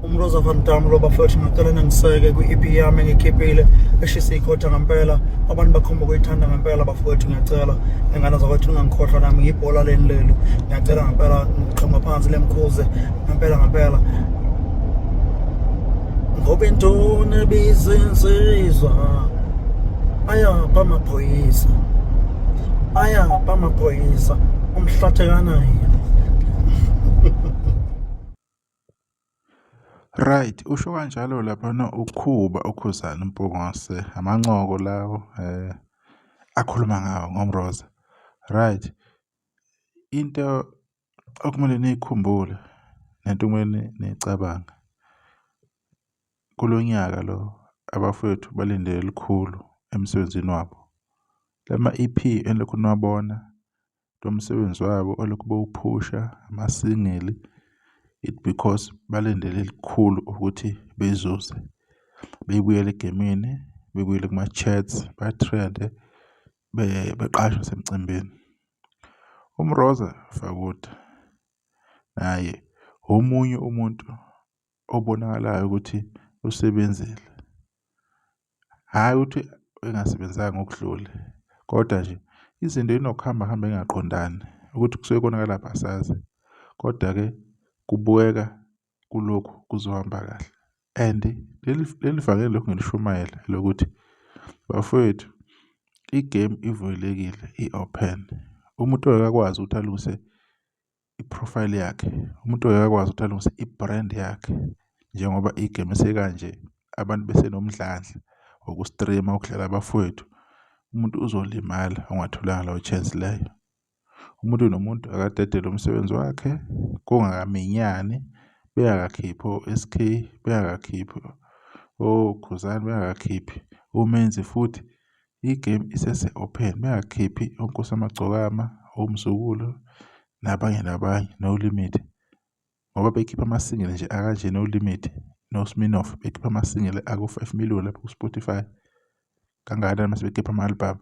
umroza van dam lo bafowethu ngicela ningiseke kwi-ep yami engikhiphile eshise ikhotha ngampela abantu bakhomba ukuyithanda ngampela bafowethu ngiyacela ingane zakwethu ningangikhohlwa nami ngiyibhola leni lelu ngiyacela ngampela ngiqhoma phansi lemkhuze ngampela ngampela ngoba intoni ebizinsizwa ayapha amaphoyisa ayapha amaphoyisa umhlathekanayo Right, usho kanjalo laphana ukhuba ukhuzana uMpungose, amancoko lawo eh akhuluma ngawo ngoMroza. Right. Into okumele niyikhumbule nento okumele niyicabange, kulo nyaka lo abafwethu balinde elikhulu emsebenzini wabo. La ma-E_P enilokhu niwabona, lo msebenzi wabo olokhu bewuphusha, amasingili, it because balindele elikhulu ukuthi bezuze, bebuyele egemini, bebuyele kuma-chats, bathrende, beqashwe nasemcimbini. UMroza Fakude naye omunye umuntu obonakalayo ukuthi usebenzile. Hhayi ukuthi engasebenzanga ngokudlule kodwa nje izinto inokuhamba hamba engaqondani ukuthi kusuke konakala phi asazi. Kodwa-ke kubukeka kulokhu kuzohamba kahle. And leli leli vangeli lokhu ngilishumayela lokuthi bafowethu i-game ivulekile i-open. Umuntu akakwazi ukuthi alungise i-profile yakhe, umuntu akakwazi ukuthi alungise i-brand yakhe njengoba i-game sekanje abantu besenomdlandla woku-stream-a ukudlala abafowethu. Umuntu uzolimala ongatholanga leyo chance leyo. Umuntu nomuntu akadedele umsebenzi wakhe kungakaminyani bengakakhiphi o-SK bengakakhiphi okhuzani bengakakhiphi umenzi futhi igame isese-open bengakhiphi onkosi amagcokama omzukulu nabanye nabanye no-limit ngoba bekhipha ama-single nje akanje no-limit no-sminoff bekhipha ama-single ako-five million lapho ku-spotify kangakanani mase bekhipha ama-album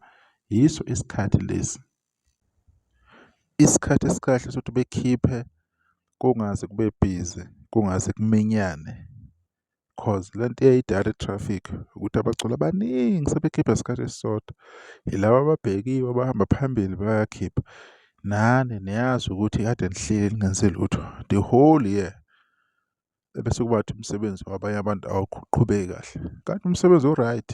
yiso isikhathi lesi isikhathi esikahle sokuthi bekhiphe kungaze kube busy kungaze kuminyane. Cause le nto eyayi-direct traffic ukuthi abaculi abaningi sebekhipha ngesikhathi esisodwa. Yilaba ababhekiwe abahamba phambili bayakhipha. Nani niyazi ukuthi kade nihleli ningenzi lutho the whole year. Ebese kuba ukuthi umsebenzi wabanye abantu awuqhubeki kahle, kanti umsebenzi u-right.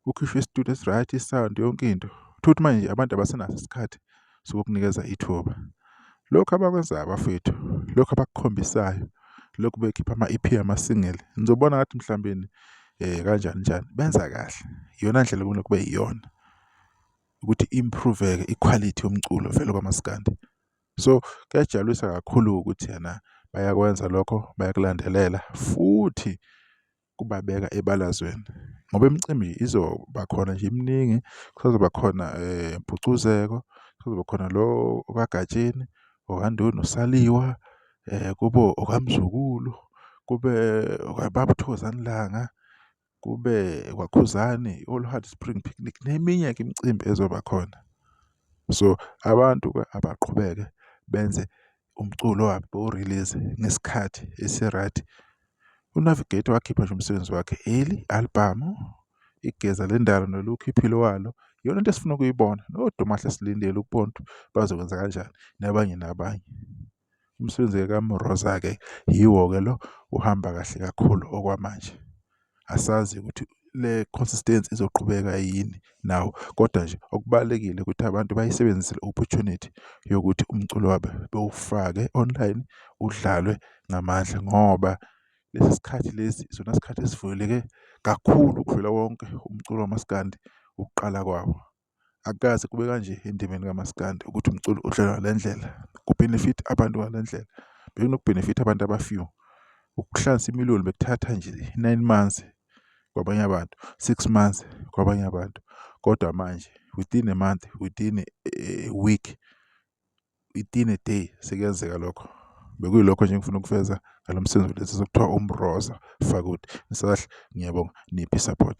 Kukhishwe isitulo esi-right, i-sound, yonke into. Uthole ukuthi manje abantu abasenaso isikhathi sokukunikeza ithuba. Lokhu abakwenzayo bafethu, lokhu abakukhombisayo, lokhu bekhipha ama-E_P ama-single, nizobona ngathi mhlawumbeni um kanjani njani, benza kahle. Iyona ndlela okumele kube iyona ukuthi i-improve-ke ikhwalithi yomculo vele kwamaskandi. So kuyajabulisa kakhulu-ke ukuthi ena bayakwenza lokho, bayakulandelela futhi kubabeka ebalazweni ngoba imicimbi izoba khona nje iminingi kusazoba khona eh, mpucuzeko kusazoba khona lo okagatsheni okandoni usaliwa um eh, kube okamzukulu kube okababuthokozani langa kube kwakhuzani oluhard spring picnic neminye ke imicimbi ezoba khona so abantu-ke abaqhubeke benze umculo abawurilize ngesikhathi esi-right. UNavigator wakhipha nje umsebenzi wakhe early, albhamu, Igeza Lendalo noLukh Iphilo Walo. Iyona nto esifuna ukuyibona, noDumahle silindele ukubona ukuthi bazokwenza kanjani nabanye nabanye. Umsebenzi-ke kaMroza-ke yiwo-ke lo uhamba kahle kakhulu okwamanje. asazi ukuthi le consistency izoqhubeka yini nawo kodwa nje okubalulekile ukuthi abantu bayisebenzise le opportunity yokuthi umculo wabo bewufake online udlalwe ngamandla ngoba lesi sikhathi lesi isona sikhathi esivuleleke kakhulu ukudlula wonke umculo wamaskandi ukuqala kwawo. Akukaze kube kanje endimeni kamaskandi ukuthi umculo udlalwa ngale ndlela kubhenefitha abantu ngale ndlela. Bekunokubhenefitha abantu aba-few. Ukuhlanza imililo bekuthatha nje nine months kwabanye abantu, six months kwabanye abantu. Kodwa manje within a month, within a week itine day sekuyenzeka lokho bekuyilokho nje ngifuna ukufeza ngalo msebenzi kulesi sokuthiwa umroza fakuthi ngisahle ngiyabonga niphi support